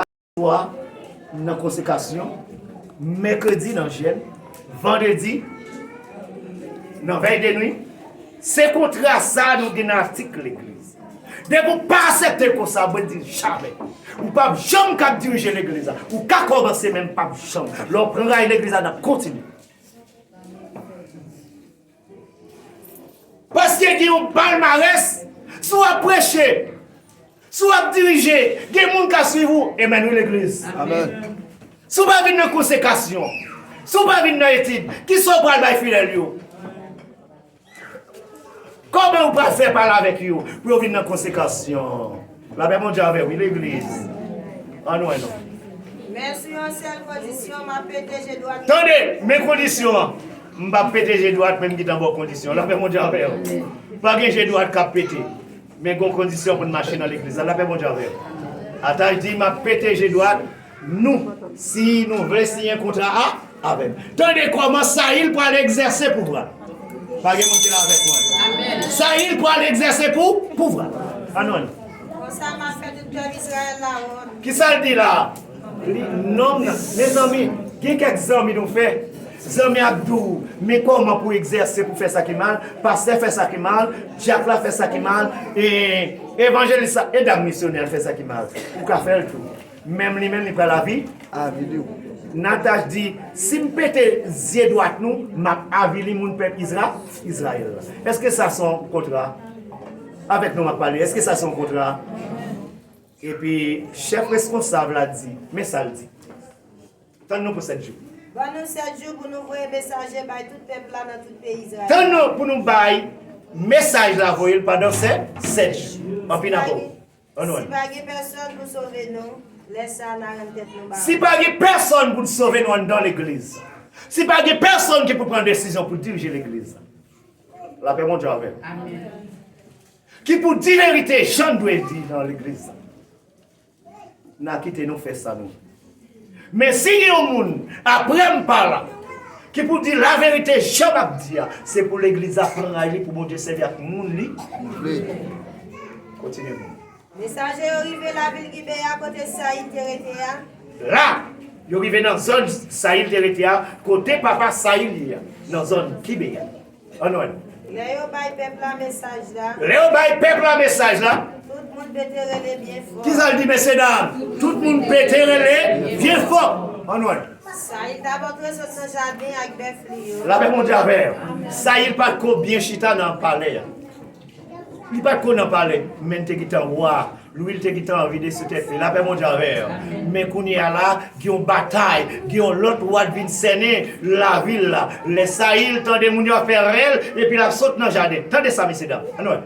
aswè nan konsekrasyon, mèkredi nan jèn, vandredi nan vèy de nwi. Se kontra sa nou gen nan atik legliz. Depi ou pa asepte konsa, mwen di jamè. Ou pap janm ka dirije legliz la. Ou ka kòmanse men pap janm. Lè ou pran rayi legliz la nap kontinye. Paske gen yon palmarès, si w ap preche, si w ap dirije, gen moun k ap swiv ou. Amen wi legliz. Si w pa vin nan konsekasyon, si w pa vin nan etid, kisa w pral bay fidèl yo? Kòman ou pral fè pale avèk yo pou yo vin nan konsekasyon? La pè Bondye avè w wi legliz An lwen nou. Men sou yon sèl kondisyon map pete je dwat. Tande men kondisyon an. M pap pete je dwat men m gitan ba w kondisyon. La pè Bondye avè w. Pa gen je dwat kap pete. Men gon kondisyon pou n mache nan legliz la. La pè Bondye avè w. Ataj di map pete je dwat. Nou, si nou vle siyen kontra a avè m. Tande kòman Sayil pral egzèse pouvwa l. Pa gen moun ki la avèk mwen. Sayil pral egzèse pou pouvwa l. An nou li. Konsa m ap fè tout pèp Izrayèl la wont. Ki sa l di la a? Li nonm nan. Mezanmi, gen kèk zanmi nou fè. Zanmi a di w, men kòman pou egzèse pou fè sa ki mal, pastè fè sa ki mal, dyak la fè sa ki mal, e evanjelis la, e dam misyonè a fè sa ki mal. Ou ka fè l tou. Menm li menm li pral avi avili w. Nataj di, Si m pete zye dwat nou, m ap avili moun pèp Izra, Izrayèl la. Èske sa se yon kontra? Avèk nou m ap pale. Èske sa se yon kontra? Epi, chèf reskonsab la di, Men sa l di, Tann nou pou sèt jou. Ban nou sèt jou pou nou voye mesaje bay tout pèp la nan tout peyi Izrayèl. Tann nou pou nou bay mesaj la voye l pandan sèt jou. Anpi, n ap ba w. Si pa gen pèsòn pou sove nou, lè sa a na rann tèt nou baron. Si pa gen pèsòn pou sove nou anndan legliz, si pa gen pèsòn ki pou pran desizyon pou dirije legliz, lapè Bondye avè nou. Amen. Ki pou di verite jan l dwe di nan legliz, na kite nou fè sa nou vle. Men si gen yon moun aprè m pa la ki pou di laverite jan m ap di a, se pou legliz la pran ray li pou Bondye sèvi ak moun li vle. Kontinye moun. Mesaje yo rive lavil Gibeya kote Sayil te rete a. La, yo rive nan zòn Sayil te rete a, kote papa Sayil ye a, nan zòn Gibeya. Anweyy. Lè yo bay pèp la mesaj la. Lè yo bay pèp la mesaj la. Tout moun pete rele byen fò. Kisa l di mesye dam? Tout moun pete rele byen fò. Anweyy. Sayil ta bò dwe sot nan jaden ak bèf li yo. Lapè Bondye avè w. Sayil pa t ko byen chita nan palè a. Li pa t ko nan palè men l te gentan wa. Louil te gintan anvi desi tèt li lapè Bondye avèw men kounyea la gen yon batay gen yon lòt lwa k vin sènen lavil la lè Sayil tande moun yo ap fè rèl epi lap sot nan jaden tande sa mesye dam ann wè.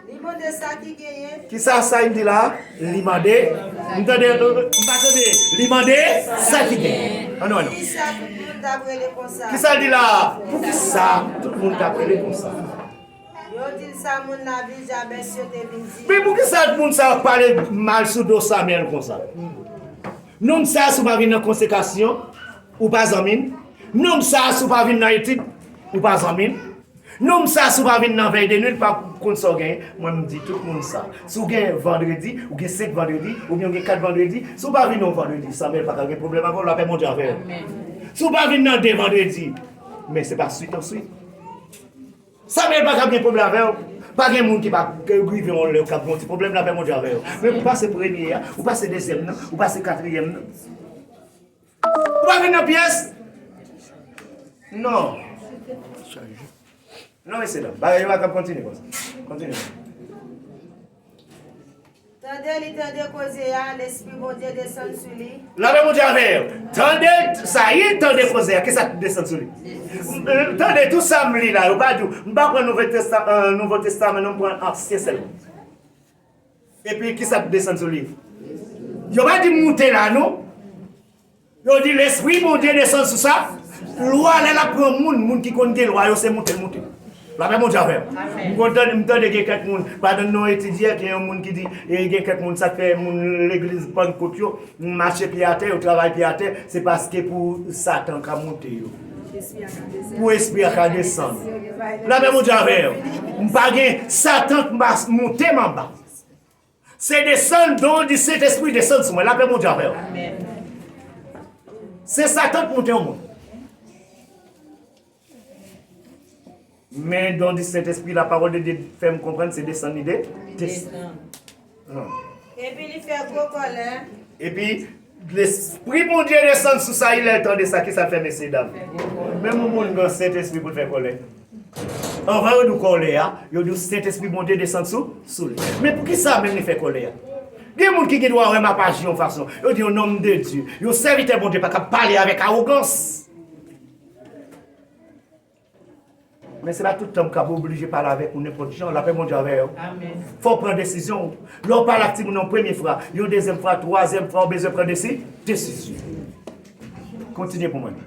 Li mande sa ki genyen. Kisa Sayil di la li mande m tande m pa tande li mande sa ki genyen ann wè non. Poukisa tout moun tap rele konsa. Kisa l di la poukisa tout moun tap rele konsa. Yo dil sa moun la vil jabes yo te vin di. Men poukisa moun sa yo pale mal sou do Samuel konsa? Nonm sa si w pa vin nan konsekasyon ou pa zanmi m, nonm sa si w pa vin nan etid ou pa zanmi m, nonm sa si w pa vin nan vèy de nwit ou pa konn sa w genyen, mwen m di tout moun sa. Si w gen vandredi, ou gen 5 vandredi, oubyen ou gen 4 vandredi, si w pa vin yon vandredi Samuel paka gen pwoblèm avè w lapè Bondye avè l. Si w pa vin nan 2 vandredi men se pa swit an swit. Samuel paka gen pwoblm avèw pa gen moun ki pa rive yon lè kap gen yon ti pwoblm lapè Bondye avè yo men ou pase premye ya ou pase dezyèm nan ou pase katriyèm nan ou pa vin nan pyès non non mesye dam bagay yo pa tap kontinye konsa kontinye. Tande, li tande koze a, Lespri Bondye desann sou li. Lanmè Bondye avè yo. Tande, Sayil tande koze a, kisa ki desann sou li? Tande, tout sa m li la, yo pa di w, m pa pran Nouvo Testaman non, m pran Ansyen sèlman. Epi, kisa ki desann sou li? Yo pa di moute la non. Yo di lespri Bondye desann sou sa, lwa lè lap pran moun, moun ki konn gen lwa yo se moute l moute. Lapè Bondye avè w. M konn tande m tande gen kèk moun padan nou etidye gen yon moun ki di gen kèk moun sak fè moun legliz pannkot yo mache pye atè yo travay pye atè se paske pou satan ka moute yo pou espri a ka desann. Lapè Bondye avè w. M pa gen satan k pa moute m anba. Se desann don di sentespri desann sou mwen lapè Bondye avèw se satan k moute yon moun men don di sentespri la pawòl de Dye fèm konprann se desann li desann epi li fè gwo kòlè epi Lespri Bondye desann sou Sayil lè l tande sa. Kisa l fè, mesyedam? Menm yon moun gen Sentespri pou l fè kòlè. Anvan yo di w kòlè a, yo di w Sentespri Bondye desann sou li. Men poukisa menm li fè kòlè a? Gen moun ki gen dwa wè m ap aji yon fason. Yo di yon nonm de Dye, yon sèvitè Bondye pa kab pale avèk awogans. Men se pa tout tan m kab oblije pale avèk ou nenpòt jan, lapè Bondye avè w. Fò w pran desizyon w. Lè w pale ak timoun nan yon premye fwa, yon dezyèm fwa, twazyèm fwa ou bezwen pran desi, desizyon. Kontinye pou mwen.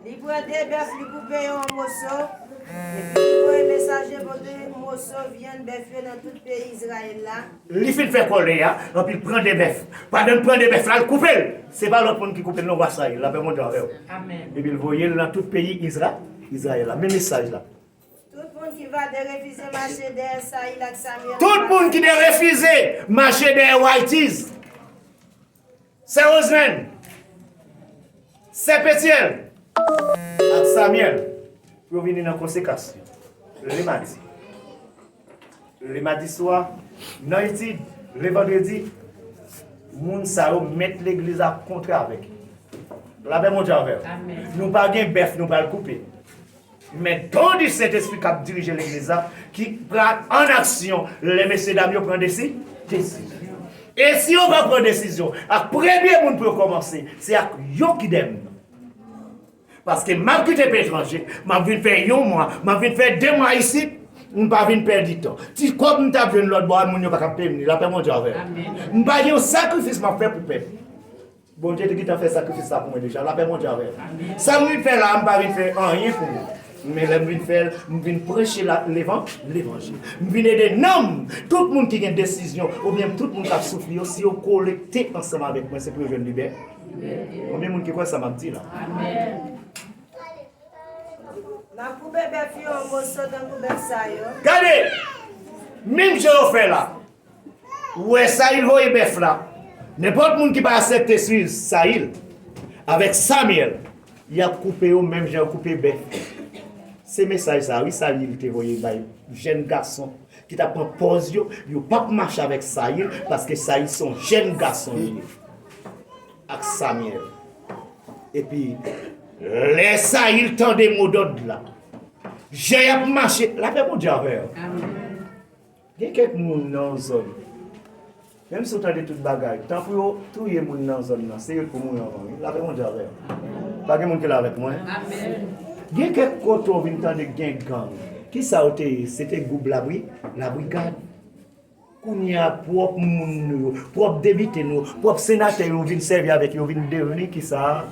Li pran de bèf, li koupe yo an moso, epi li voye mesaje pote moso vyann bèf yo nan tout peyi Izrayèl la. Li fin fè kòlè a epi l pran 2 bèf. Pandan l pran 2 bèf la, l koupe l. Se pa lòt moun ki koupe l non, wa sa ye, lapè monte avè w. Epi l voye l nan tout peyi Izrayèl la. Men mesaj la. Tout moun ki va derefize mache dèyè Sayil ak Samyèl anba Waytiz. Sè Roselèn, Sè Petyèl ak Samyèl pou yo vini nan konsekans yo le madi. Le madi swa, nan etid le vandredi, moun sa yo mèt legliz la ap kontre avèk yo. Lapè Bondye avè w. Nou pa gen bèf nou pral koupe. Men don di Sentespri k ap dirije Legliz la ki pral an aksyon lè mesyedam yo pran desi desizyon. E si yo va pran desizyon ak premye moun pou yo kòmanse, se ak yon kidèm. Paske m ap kite peyi etranje, m ap vin fè yon mwa, m ap vin fè de mwa isit, m pa vin pèdi tan. Ti kòb m t ap jwenn lòtbò a moun yo pa t ap peye m li. Lapè Bondye avè nou. M pa gen yon sakrifis m ap fè pou pèdi. Bondye te gentan fè sakrifis la pou mwen deja, lapè Bondye avè nou. Sam vin fè la a, m pa vin fè anyen pou mwen, men lèm vin fèl, m vin preche levanjil, m vin ede nanm tout moun ki gen desizyon oubyen tout moun kap soufri yo, si yo kolekte ansanm avèk mwen se pou yo jwenn libè libète. Konbyen moun ki kwè sa map di la? Gade! Menm jan yo fè la. Ou wè Sayil voye bèf la. Nenpòt moun ki pa asèpte swiv Sayil avèk Samyèl, y ap koupe yo menm jan yo koupe bèf. Se mesaj sa a wi Sayil te voye bay jèn gason ki t ap pran pòz yo, yo p ap mache avèk Sayil paske Sayil se yon jèn gason li ye ak Samyèl. Epi, lè Sayil tande modòd la, jan y ap mache, lapè Bondye avè w. Gen kèk moun nan yon zòn, menm si yo tande tout bagay, tan pou yo touye moun nan zòn nan, se yo t pou mouri anvan wi. Lave Bondye avè yo. Pa gen moun ki la avèk mwen? Gen kèk kote w vin tande gen gang. Kisa yo te ye? Se te gwoup labri, la brigad. Kounye a pwòp moun nou yo, pwòp depite nou yo, pwòp senatè yo vin sèvi avèk yo, yo vin devni kisa?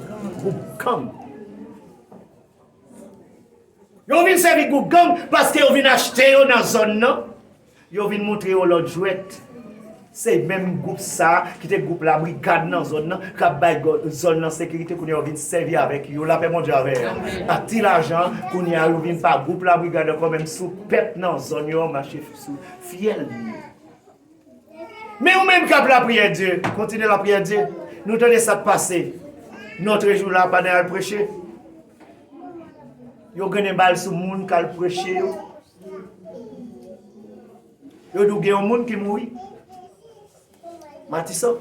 Gwoup gang. Yo vin sèvi gwoup gang paske yo vin achte yo nan zòn nan, yo vin montre yo lòt jwèt. Se menm gwoup sa a ki te gwoup labrikad nan zòn nan, k ap bay zòn nan sekirite kounye a yo vin sèvi avèk yo, lapè Bondye avè yo, ak ti lajan an, kounye a yo vin pa gwoup labrigad ankò menm sou pèp nan zòn yo an mache sou fyèl li yo. Men ou menm kap lapriyè di kontinye lapriyè di nou tande sak pase notre jou la pandan yal preche yo grenn bal sou moun kal preche yo yo di gen yon moun ki mouri matisan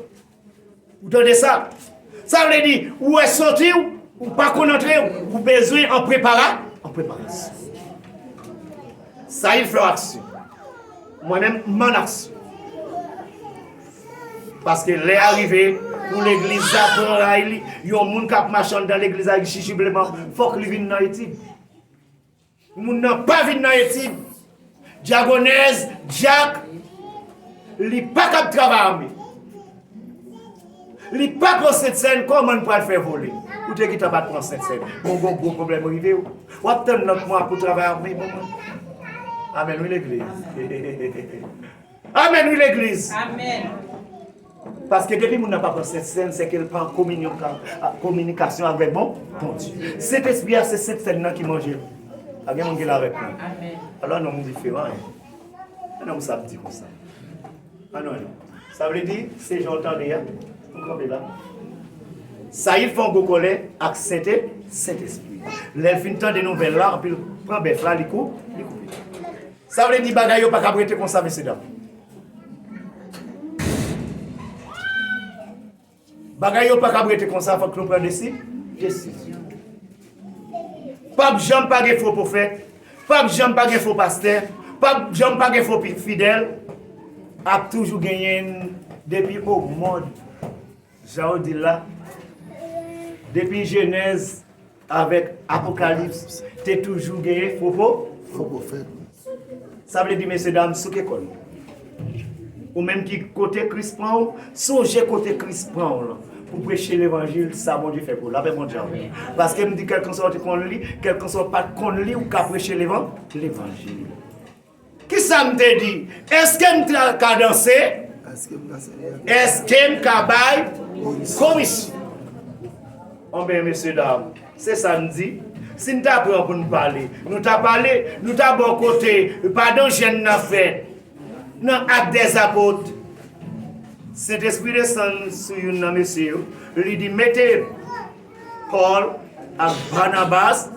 Ou tande sa? Sa vle di, ou wè soti ou, ou pa konn antre ou, ou bezwen an prepara, an preparasyon. Sa il flò aksyon. Mwen menm m'en aksyon. Paske lè a rive pou legliz la pran ray li, yon moun k'ap mache anndan legliz la ak jijibleman, fòk li vin nan etid. Moun nan pa vin nan etid dyagonèz dyak li pa kab travay ame li pa pran sentsèn kòman n pral fè vole ou te gentan pat pran sentsèn bon gon gwo pwoblèm rive w wap tann nan kman pou travay ame bon mwen amèn wi legliz amèn wi legliz. Paske depi moun nan pa pran Sent Sèn, sè ke l pa an kominyon, an kominikasyon avèk bon, Bondye. Sent Espri a se Sent Sèn nan ki manje l. A gen moun ki la avèk mwen? Alò non m diferan an. An non m sa m di konsa. An non non. Sa vle di, se jan w tande a, ou kanpe la. Sayil fè yon gwo kòlè ak Sent E, Sent Espri. Lè l fin tande nouvèl la, anpi l pran bèf la, li kou, li koupe. Sa vle di bagay yo pa kab rete konsa, mesye dam. Bagay yo pa kab rete konsa fok nou pran desi desizyon. Pap janm pa gen fo pwofèt, pap janm pa gen fo pastè, pap janm pa gen fo fidèl, ap toujou genyen depi o mond. Jan w di l la, depi Jenèz avèk Apokalips te toujou genyen fo pwofèt. Sa vle di mesyedam, souke kò nou. Ou menm ki kote Kris pran ou, sonje kote Kris pran ou lan pou preche levanjil sa Bondye fè pou ou. Lapè Bondye avèk ou. Paske m di kèlkanswa ou te konn li, kèlkanswa ou pa t konn li, ou ka preche levanjil. Kisa m te di? Eske m ka danse? Eske m ka bay komisyon? Anben, mesyedam, se sa n di. Si n ta pran pou n pale, nou ta pale, nou ta bò kote padan jèn n ap fè nan Ak dèzapot. Sentespri desann sou youn nan mesye yo, li di, Mete Paul ak Barnabas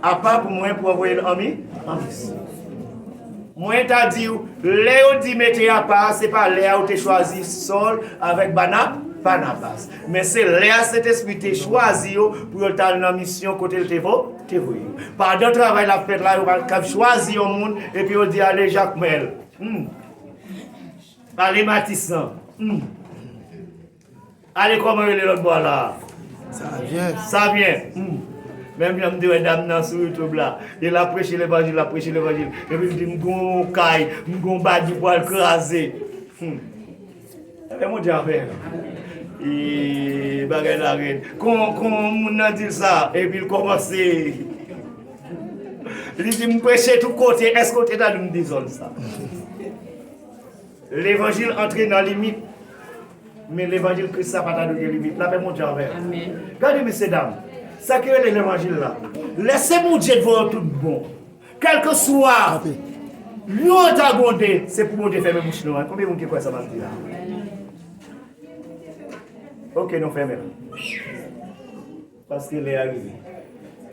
a pa pou mwen pou anvoye l anmi anvis. Mwen ta di ou, lè yo di mete a pa, se pa lè a ou te chwazi Saul avèk Barnabas, Barnabas. Men se lè a Sentespri te chwazi yo pou yo ta nan misyon kote l te vo, te voye yo. Padan travay la fèt la, yo pa kab chwazi yon moun epi yo di ale Jacmel, hmm, ale Matisan, hmm. Ale koman rele lot bwa la. Savyen. Savyen humm menm jan m te wè dam nan sou YouTube la e lap preche levanjil lap preche levanjil epi l di m gon kay m gon bagi pwal kraze humm ebyen Bondye avè l eeee bagay la rèd kon kon moun nan di l sa epi l komanse li di m preche tout kote eske w te tande m di zòn sa. Levanjil antre nan limit men levanjil kris la pa ta dwe gen limit lapè Bondye avèw gade mesye dam sa ki rele levanjil la lèse Bondye devan yo tout bon kèlkeswa yon an ta gwonde se pou Bondye fèmen bouch nou konbyen moun ki kwè sa map di la ok nou fèmen paske lè a rive.